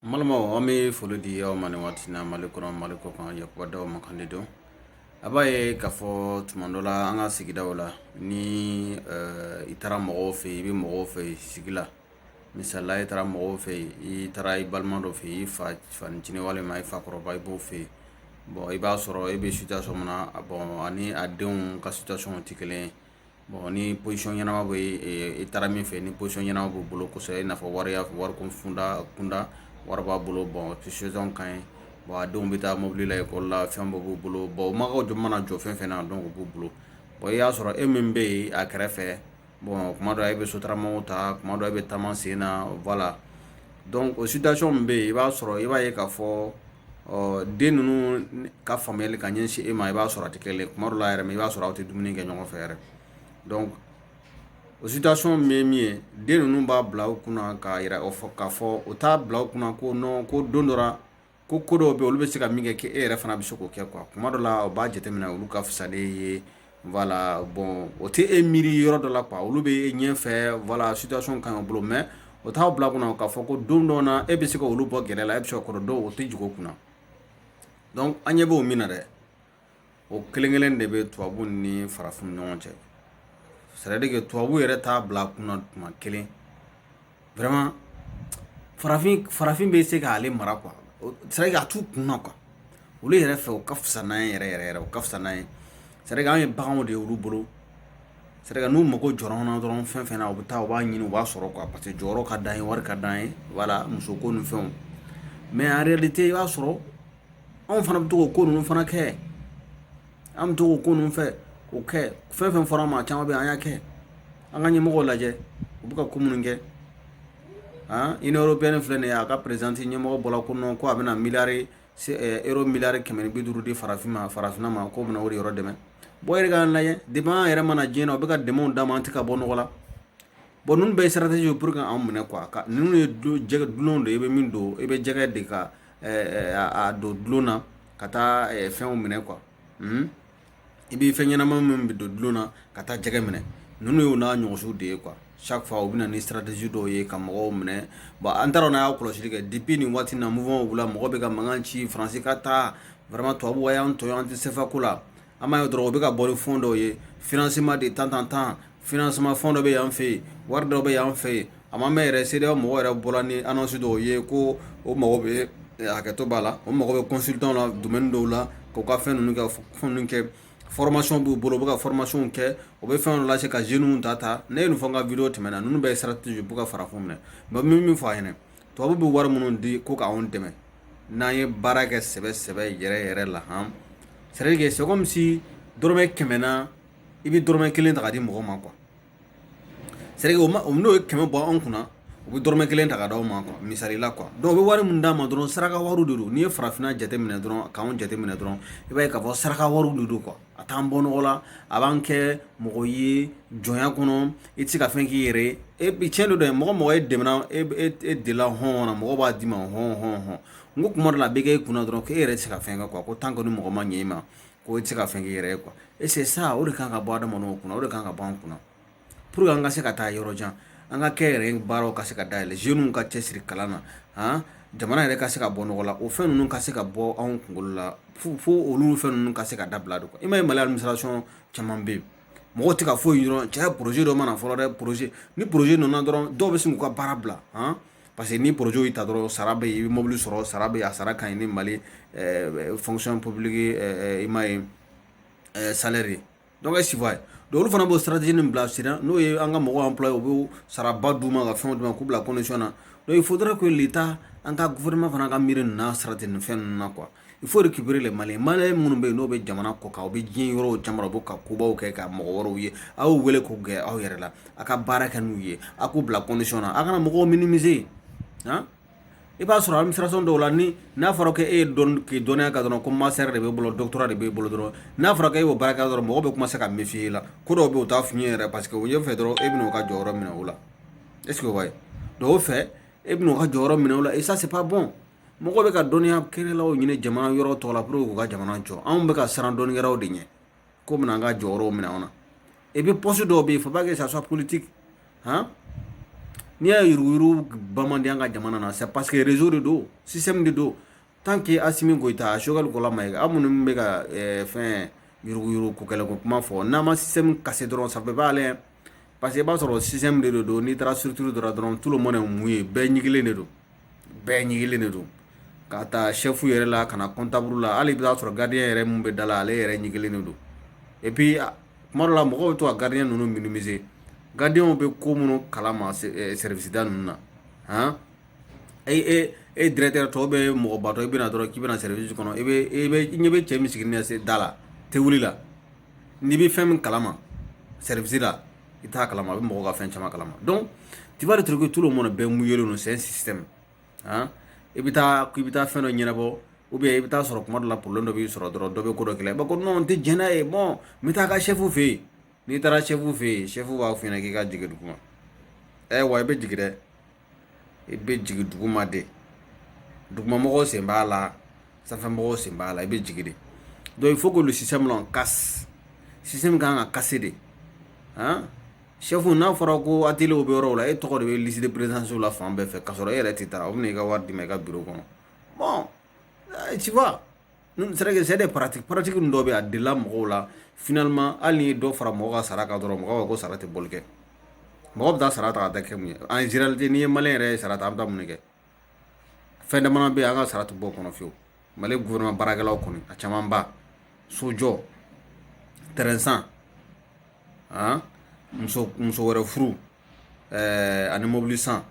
n balimaw an bɛ foli di aw ma nin waati na mali kɔnɔ mali kɔkan yakuba daw mankan de don a b'a ye k'a fɔ tuma dɔ la an ka sigidaw la ni eh, i taara mɔgɔw fɛ yen i bɛ mɔgɔw fɛ yen sigi la misalila i taara mɔgɔw fɛ yen i taara i balima dɔ fɛ yen i fanicinin walima i fakɔrɔba i b'o fɛ yen bon i b'a sɔrɔ e bɛ situation min na a bon ani a denw ka situation tɛ kelen ye bon ni position ɲɛnama bɛ i taara min fɛ ni position ɲɛnama b'u bolo kosɛbɛ i n'a fɔ wari wariko kunda wari b'a bolo bon position ka ɲi bon a denw bɛ taa mobili la ekɔli la fɛn bɛɛ b'u bolo bon u magow jɔ mana jɔ fɛn fɛn na donc u b'u bolo bon i y'a sɔrɔ e min bɛ yen a kɛrɛfɛ bon kuma dɔ e bɛ sotaramaw ta kuma dɔ e bɛ taama sen na voilà donc o situation min bɛ yen i b'a sɔrɔ i b'a ye k'a fɔ ɔ den ninnu ka faamuyali ka ɲɛsin e ma i b'a sɔrɔ a tɛ kelen kuma dɔ la yɛrɛ i b'a sɔrɔ aw tɛ dumuni kɛ ɲɔgɔn fɛ yɛrɛ donc o situation min ye min ye den ninnu b'a bila u kunna k'a yira k'a fɔ u t'a bila u kunna ko non ko don dɔ la ko ko dɔw bɛ olu bɛ se ka min kɛ k'e yɛrɛ fana bɛ se k'o kɛ quoi kuma dɔ la o b'a jateminɛ olu ka fisa n'e ye voilà bon o tɛ e miiri yɔrɔ dɔ la quoi olu bɛ e ɲɛfɛ voilà situation ka ɲi u bolo mais o t'aw bila kunna k'a fɔ ko don dɔ na e bɛ se ka olu bɔ gɛlɛya la e bɛ se ka ko dɔ dɔn o tɛ jigin u kunna donc an ɲɛ b'o min na dɛ o kelen kelen de bɛ tubabu ni farafin ɲɔgɔn cɛ c'est à dire que tubabu yɛrɛ t'a bila kunna tuma kelen vraiment farafin farafin bɛ se k'ale mara quoi c'est à dire que a t'u kunna quoi olu yɛrɛ fɛ u ka fisa n'an ye yɛrɛ yɛrɛ yɛrɛ u ka fisa n'an ye c'est à dire que an ye baganw de ye olu bolo c'est à dire que n'u mago jɔra an na dɔrɔn fɛn fɛn na u bɛ taa u b'a ɲini u b'a sɔrɔ quoi parce que jɔyɔrɔ ka d'an ye wari ka d'an ye voilà musoko ni fɛnw mais en réalité i b'a sɔrɔ anw fana bɛ to k'o ko ninnu fana kɛ an bɛ to k'o ko ninnu fɛ k'o kɛ fɛn fɛn fɔra an ma caman bɛ an y'a kɛ an ka ɲɛmɔgɔw lajɛ u bɛ ka ko minnu kɛ union européenne filɛ nin ye a ka présidente ɲɛmɔgɔ bɔra ko non ko a bɛna miliyari euro miliyari kɛmɛ ni bi duuru di farafin ma farafinna ma k'o bɛna o de yɔrɔ dɛmɛ bon e yɛrɛ k'a lajɛ depuis an yɛrɛ ma na diɲɛ na u bɛ ka dɛmɛw d'an ma an tɛ ka bɔ nɔgɔ la bon ninnu bɛɛ ye stratégie ye pour que an minɛ quoi ka ninnu ye jɛgɛ dulon de ye i bɛ min don i bɛ jɛgɛ de ka a don dulon na ka taa fɛnw minɛ quoi hmm? i bɛ fɛn ɲɛnama min bɛ don dulon na ka taa jɛgɛ minɛ ninnu y'o n'a ɲɔgɔnsiw de ye quoi chaque fois u bɛ na ni stratégie dɔw ye ka mɔgɔw minɛ bon an taara n'a y'a kɔlɔsili kɛ depuis nin waati na mouvement wulila mɔgɔ bɛ ka mankan ci faransi ka taa vraiment tubabuw y'an tɔɲɔ an tɛ CFA ko la an b'a ye dɔrɔn u bɛ ka bɔ ni fonds dɔw ye financement de tan tan tan financement fonds dɔ bɛ yan fɛ yen wari dɔ bɛ yan fɛ yen a ma mɛn yɛrɛ CEDEAO mɔgɔ yɛrɛ bɔra ni annonce dɔw ye ko o mago bɛ hakɛto b'a la o mago bɛ consultant la domaine dɔw la k'u ka fɛn ninnu kɛ fɛn kɛ formation b'u bolo u bɛ ka formationw kɛ o bɛ fɛn dɔ lase ka jeunew ta ta ne ye nin fɔ n ka video tɛmɛnen na ninnu bɛɛ ye stratégie pour ka farafin minɛ mais min min fɔ a ɲɛna tubabu bɛ wari minnu di ko k'anw dɛmɛ n'an ye baara kɛ sɛbɛ sɛbɛ yɛrɛ yɛrɛ la han c'est à dire que c'est comme si dɔrɔmɛ kɛmɛ na i bɛ dɔrɔmɛ kelen ta ka di mɔgɔ ma quoi c'est à dire que o ma o n'o ye kɛmɛ bɔ anw kunna u bɛ dɔrɔmɛ kelen ta ka d'aw ma quoi misali la quoi donc u bɛ wari min d'a ma dɔrɔn saraka wariw de don n'i ye farafinna jateminɛ dɔrɔn k'anw jateminɛ dɔrɔn i b'a ye k'a fɔ saraka wariw de don quoi a t'an bɔ nɔgɔ la a b'an kɛ mɔgɔ ye jɔnya kɔnɔ i tɛ se ka fɛn k'i yɛrɛ ye et puis tiɲɛ don dɛ mɔgɔ mɔgɔ ye dɛmɛna e e, e dela hɔn na mɔgɔ b'a d'i ma hɔn hɔn hɔn n ko kuma dɔ la a bɛ kɛ e kunna dɔrɔn k'e yɛrɛ tɛ se ka fɛn kɛ quoi ko tant que ni mɔgɔ ma ɲɛ i ma ko i tɛ se ka fɛn k'i yɛrɛ ye quoi et c'est ça o de kan ka bɔ adamadenw kunna o de kan ka bɔ an kunna pour que an ka se ka taa yɔrɔ jan an ka kɛ yɛrɛ baaraw ka se ka dayɛlɛ jeunes ka cɛsiri kalan na han jamana yɛrɛ ka se ka bɔ nɔgɔ la o fɛn ninnu ka se ka bɔ anw kunkolo la fo olu fɛn ninnu ka se ka dabila de i ma ye mali administration caman bɛ yen mɔgɔw tɛ ka foyi dɔrɔn cɛ projet dɔ mana fɔlɔ dɛ projet ni projet nana dɔrɔn dɔw bɛ sin k'u ka baara bila han parce que ni projet y'i ta dɔrɔn sara bɛ yen i bɛ mobili sɔrɔ sara bɛ yen a sara ka ɲi ni mali fonction publique i ma ye salaire ye donc est ce que i b'a ye olu fana b'o stratégie nin bila sen n'o ye an ka mɔgɔw employer u bɛ saraba d'u ma ka fɛnw d'u ma k'u bila condition na donc il faudrait que l'état an ka gouvernement fana ka miiri nin na sarati ni fɛn ninnu na quoi il faut récupérer les maliens minnu bɛ yen n'o bɛ jamana kɔ kan u bɛ diɲɛ yɔrɔ caman u bɛ ka kobaw kɛ ka mɔgɔ wɛrɛw ye aw y'u wele k'u gɛn aw yɛrɛ la a ka baara kɛ n'u ye a k'u bila condition na a kana mɔgɔw minimiser i b'a sɔrɔ administration dɔw la ni n'a fɔra ko e ye dɔn k'i dɔnniya ka dɔrɔn ko master de b'e bolo doctorat de b'e bolo dɔrɔn n'a fɔra ko e b'o baara kɛ dɔrɔn mɔgɔw bɛ commencer ka méfier i la ko dɔw bɛ yen u t'a f'i ye yɛrɛ parce que u ɲɛfɛ dɔrɔn e bɛna u ka jɔyɔrɔ minɛ o la est ce que o b'a ye donc o fɛ e bɛna u ka jɔyɔrɔ minɛ o la et ça c'est pas bon mɔgɔw bɛ ka dɔnniya kɛlaw ɲini jamana yɔrɔ tɔw la pour que k'u ka jamana jɔ anw bɛ ka siran dɔnnikɛlaw de ɲɛ k'u bɛna an ka jɔyɔrɔw minɛ anw na et puis poste dɔw bɛ yen faut pas que ça soit politique han n'i y'a yuruguyurugu ban man di an ka jamana na c'est parce que réseau de don système de don tant que assimi goïta a choguel kokalla maïga minnu bɛ ka fɛn yuruguyurugu ko kɛlɛ ko kuma fɔ n'an ma système casser dɔrɔn ça peut pas aller parce que i b'a sɔrɔ système de don n'i taara structure dɔrɔn dɔrɔn tout le monde est mouillé bɛɛ ɲigilen de don bɛɛ ɲigilen de don ka taa chef yɛrɛ la ka na comptable la hali i b'a sɔrɔ gardien yɛrɛ min bɛ da la ale yɛrɛ ɲigilen de don et puis kuma dɔ la mɔgɔw bɛ to ka gardien ninnu minimiser gardiens bɛ ko minnu kalama service da ninnu na han e e e directeur tɔ bɛ mɔgɔbatɔ i bɛ na dɔrɔn k'i bɛ na service kɔnɔ i bɛ i bɛ i ɲɛ bɛ cɛ min sigilen da la tewuli la nin bɛ fɛn min kalama service la i t'a kalama a bɛ mɔgɔw ka fɛn caman kalama donc tu vas retrouver que tout le monde bɛɛ mouillélen don c'est un système hein i bɛ taa k'i bɛ taa fɛn dɔ ɲɛnabɔ ou bien i bɛ taa sɔrɔ kuma dɔ la problème dɔ b'i sɔrɔ dɔrɔn dɔ bɛ ko dɔ kɛlɛ i b'a fɔ ko non n tɛ jɛn n'a ye bon n bɛ taa ka chef fɛ yen n'i taara chef fɛ yen chef b'a f'i ɲɛna k'i ka jigin duguma ɛ wa i bɛ jigin dɛ i bɛ jigin duguma de dugumamɔgɔw sen b'a la sanfɛmɔgɔw sen b'a la i bɛ jigin de donc il faut que le système là on casse système kan ka casser de han chef n'a fɔra ko atelier bɛ yɔrɔw la e tɔgɔ de bɛ liste de présence la fan bɛɛ fɛ k'a sɔrɔ e yɛrɛ tɛ taa o bɛ na i ka wari d'i ma i ka bureau kɔnɔ bon tu vois c'est des pratiques pratiques ninnu dɔw bɛ a delila mɔgɔw la finalement hali n'i ye dɔ fara mɔgɔ ka sara kan dɔrɔn mɔgɔ ko sara tɛ bɔli kɛ mɔgɔ bɛ taa sara ta ka kɛ mun ye en généralité n'i ye malien yɛrɛ ye sara ta an bɛ mun kɛ fɛn dama bɛ yen an ka sara tɛ bɔ o kɔnɔ fiyewu mali gouvernement baarakɛlaw kɔni a camanba so jɔ terrain san muso wɛrɛ furu ɛɛ ani mobili san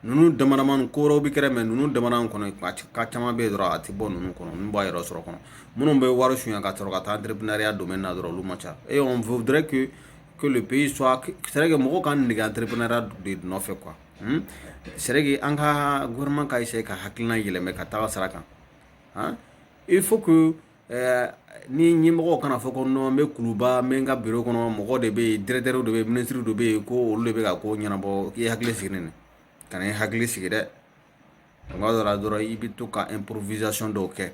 ninnu damadamani ko wɛrɛw bɛ kɛrɛ mais ninnu damadamani kɔnɔ a ti- ka caman bɛ yen dɔrɔn a tɛ bɔ ninnu kɔnɔ ninnu b'a yɛrɛ sɔrɔ kɔnɔ minnu bɛ wari suɲɛ ka sɔrɔ ka taa entrepreneuriat domaine na dɔrɔn olu man ca et on voudrait que que le pays soit que- c'est vrai que mɔgɔw ka nege entrepreneuriat de nɔfɛ quoi hmm? c'est vrai que an ka gouvernement ka essayer ka hakilina yɛlɛmɛ ka taga sira kan hein? il faut que ɛɛ ni ɲɛmɔgɔ kana fɔ ko non n bɛ kuluba n bɛ n ka bureau kɔnɔ mɔgɔ de bɛ yen directeur de bɛ yen ministre de bɛ yen ko olu de bɛ ka ko ɲɛnabɔ k'i hakili sigi nin kana i hakili sigi dɛ tuma dɔ la dɔrɔn i bɛ to ka improvisation dɔw kɛ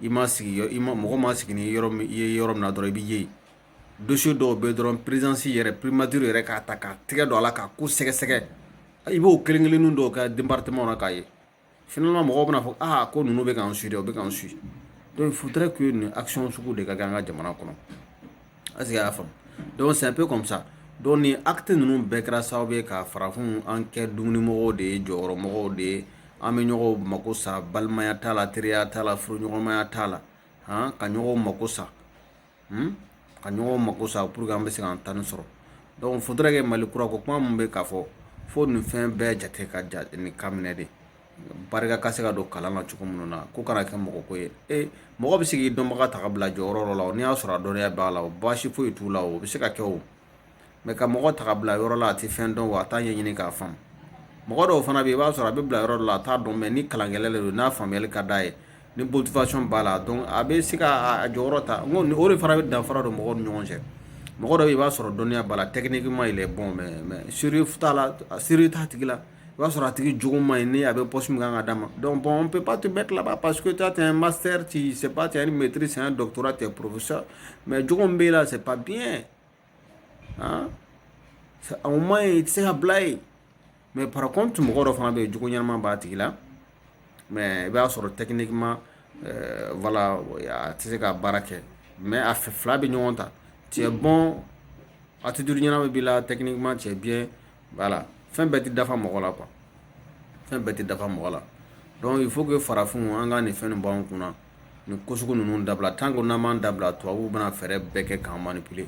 i ma sigi i ma mɔgɔ ma sigi ni yɔrɔ i ye yɔrɔ min na dɔrɔn i bɛ ye yen dossier dɔw bɛ dɔrɔn présidence yɛrɛ primature yɛrɛ k'a ta ka tɛgɛ don a la ka ko sɛgɛsɛgɛ i b'o kelen kelen dɔw kɛ département na k'a ye Finalement mɔgɔw bɛna fɔ aa ko ninnu bɛ k'an suit dɛ u bɛ k'an suit donc faudrait que nin action sugu de ka kɛ an ka jamana kɔnɔ est ce que y'a faamu donc c'est un peu comme ça donc nin acte ninnu bɛɛ kɛra sababu ye ka farafinw an kɛ dumunimɔgɔw de ye jɔyɔrɔmɔgɔw de ye an bɛ ɲɔgɔn mako sa balimaya t'a la teriya t'a la furuɲɔgɔnmaya t'a la han ka ɲɔgɔn mako sa hmm? ka ɲɔgɔn mako sa pour que an bɛ se k'an ta ni sɔrɔ donc faudrait que mali kura ko kuma min bɛ k'a fɔ fo nin fɛn bɛɛ jate ka ja nin ka minɛ de barika ka se ka don kalan na cogo minnu na ko kana kɛ mɔgɔ ko ye e mɔgɔ bɛ se k'i dɔnbaga ta ka bila jɔyɔrɔ dɔ la o n'i y'a sɔrɔ a dɔnniya b'a la o baasi foyi t'o la o bɛ se ka kɛ o ka mɔgɔ ta ka bila yɔrɔ la a tɛ fɛn dɔn wa a t'a ɲɛɲini k'a faamu mɔgɔ dɔw fana bɛ yen i b'a sɔrɔ a bɛ bila yɔrɔ dɔ la a t'a dɔn mais ni kalankɛla de don n'a faamuyali ka d'a ye ni motivation b'a la donc a bɛ se ka a jɔyɔrɔ ta n ko o de fana bɛ danfara don mɔgɔw ni ɲɔgɔn cɛ mɔgɔ dɔ bɛ yen i b'a sɔrɔ dɔnniya b'a la techniquement il est bon mais sérieux t'a la sérieux t'a tigi la O b'a sɔrɔ a tigi jugu ma ɲi ni a bɛ pɔsi min kan ka d'a ma dɔn bɔn pe pa tun bɛɛ tilaba pa que taa tɛ n ma seri ci se pa tɛ ni mɛtiriri sɛgɛn dɔtura tɛ porosa mɛ j bɛ la se pa biɲɛ aa anw ma ye i tɛ se ka bila ye mɛ para tun mɔgɔ dɔ fana bɛ yen jugu ɲɛnaman b'a tigi la mɛ i b'a sɔrɔ tɛkini ma wala a tɛ se ka baara kɛ mɛ a fɛ fila bɛ ɲɔgɔn ta cɛ bɔn a tɛ duuru ɲɛna bɛ' la tɛkiniman cɛ bi voilà fɛn bɛɛ tɛ dafa mɔgɔ la quoi fɛn bɛɛ tɛ dafa mɔgɔ la donc il faut que farafinw an ka nin fɛn nin bɔ an kunna nin ko sugu ninnu dabila tant que n'an m'a dabila tubabuw bɛna fɛɛrɛ bɛɛ kɛ k'an manipuler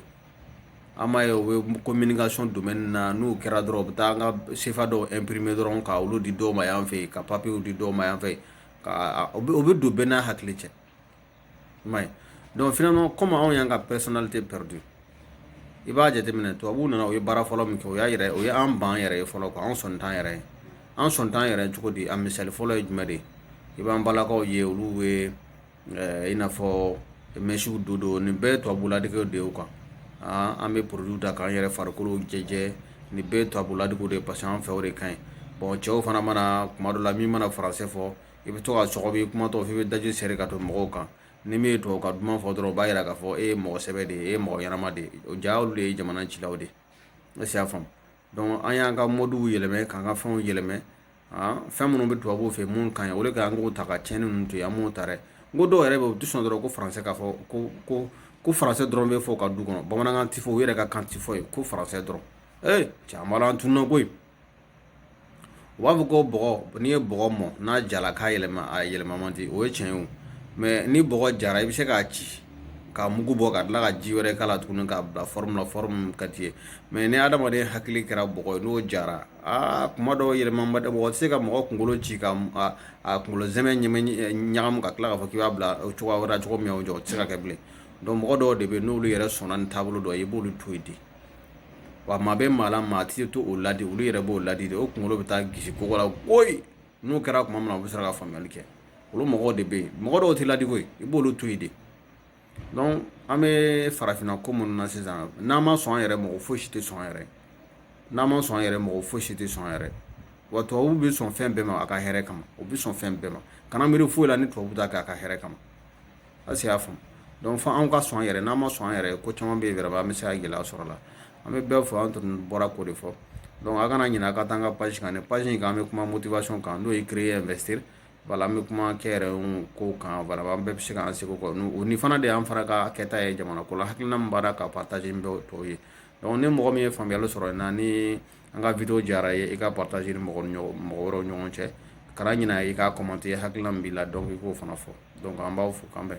an b'a ye u bɛ communication domaine na n'u kɛra dɔrɔn u bɛ taa an ka sefa dɔw imprimer dɔrɔn ka olu di dɔw ma yan fɛ yen ka papiyew di dɔw ma yan fɛ ka o bɛ don bɛɛ n'a hakili cɛ i m'a ye donc finalement comme anw y'an ka personnalité perdu i b'a jateminɛ tubabuw nana u ye baara fɔlɔ min kɛ o y'a yɛrɛ o ye an ban yɛrɛ ye fɔlɔ an sɔn t'an yɛrɛ ye an sɔn t'an yɛrɛ cogo di a misali fɔlɔ ye jumɛn de ye i b'an balakaw ye olu bɛ eh, i n'a fɔ mɛsiw don don nin bɛɛ ye tubabuladegew de ye o kan an bɛ produit ta k'an yɛrɛ farikolo jɛjɛ nin bɛɛ ye tubabuladegew de ye parce que an fɛ o de ka ɲi bon cɛw fana mana kuma dɔ la min mana faransɛ fɔ i bɛ to ka sɔgɔbɛ i kumatɔ f'i bɛ daji seri ka to mɔgɔw kan ni min ye tubabukan duman fɔ dɔrɔn o b'a yira k'a fɔ e ye mɔgɔ sɛbɛ de ye e ye mɔgɔ ɲɛnama de ye o ja olu de ye jamana cilaw de ye est-ce que y'a faamu an y'an ka mɔduw yɛlɛmɛ k'an ka fɛnw yɛlɛmɛ fɛn minnu bɛ tubabuw fɛ minnu ka ɲi o de ka an k'o ta ka tiɲɛnen ninnu to yen an m'o ta dɛ n ko dɔw yɛrɛ bɛ yen u tɛ sɔn dɔrɔn ko faransɛ k'a fɔ ko ko ko faransɛ dɔrɔn bɛ fɔ ka du kɔnɔ bamanankan tɛ fɔ u yɛrɛ ka kan tɛ fɔ yen ko faransɛ dɔrɔn ee cɛ an b'a la an tununa koyi u b'a fɔ ko bɔgɔ n'i ye bɔgɔ mɔn n'a jala k'a yɛlɛma a yɛlɛma man di o ye tiɲɛ ye o mais ni bɔgɔ jara i bɛ se k'a ci ka mugu bɔ ka tila ka ji wɛrɛ k'a la tuguni k'a bila fɔrɔmu la fɔrɔmu ka di mais ni adamaden hakili kɛra bɔgɔ ye n'o jara aa kuma dɔw yɛlɛma ba mɔgɔ tɛ se ka mɔgɔ kunkolo ci ka a kunkolosɛmɛ ɲagamu ka tila k'a fɔ k'i b'a bila cogoya wɛrɛ cogo min o jɔ o tɛ se ka kɛ bilen mɔgɔ dɔw de bɛ yen n'olu yɛrɛ sɔnna ni taabolo dɔ ye i b'olu to yen ten wa maa bɛ maa la maa tɛ to o ladi olu yɛrɛ b'u ladi de u kunkolo bɛ taa gosi kogo la koyi n'o kɛra tuma min na u bɛ sɔrɔ ka faamuyali kɛ olu mɔgɔw de bɛ yen mɔgɔ dɔw tɛ ladi koyi i b'olu to yen de donc an bɛ farafinna ko minnu na sisan n'an ma sɔn an yɛrɛ mɔgɔ foyi si tɛ sɔn an yɛrɛ n'an ma sɔn an yɛrɛ mɔgɔ foyi si tɛ sɔn an yɛrɛ wa tubabu bɛ sɔn fɛn bɛɛ ma a ka hɛrɛ kama u bɛ sɔn fɛn bɛɛ ma kana miiri foyi la ni tubabu t'a kɛ a ka hɛrɛ kama est-ce que y'a faamu donc fo anw ka sɔn an yɛrɛ n'an ma sɔn an yɛrɛ ko caman bɛ yen yɛrɛ an bɛ se ka gɛlɛya sɔrɔ a la an bɛ bɛɛ fɔ an tun bɔra k'o de fɔ a kana ɲinɛ a ka taa an ka page kan nin page in kan an bɛ kuma motivation kan n'o ye créer investir voilà an bɛ kuma kɛyɛrɛye ko kan voilà an bɛɛ bɛ se k'an seko kɛ o ni fana de y'an fana ka kɛta ye jamana ko la hakilina min b'a la ka partager ni bɛɛ tɔw ye ni mɔgɔ min ye faamuyali sɔrɔ nin na ni an ka video diyara i ye i k'a partager ni mɔgɔ mɔgɔ wɛrɛw ɲɔgɔn cɛ kana ɲinɛ i ka commenter hakilina min b'i la donc i k'o fana fɔ donc an b'aw fo k'an bɛn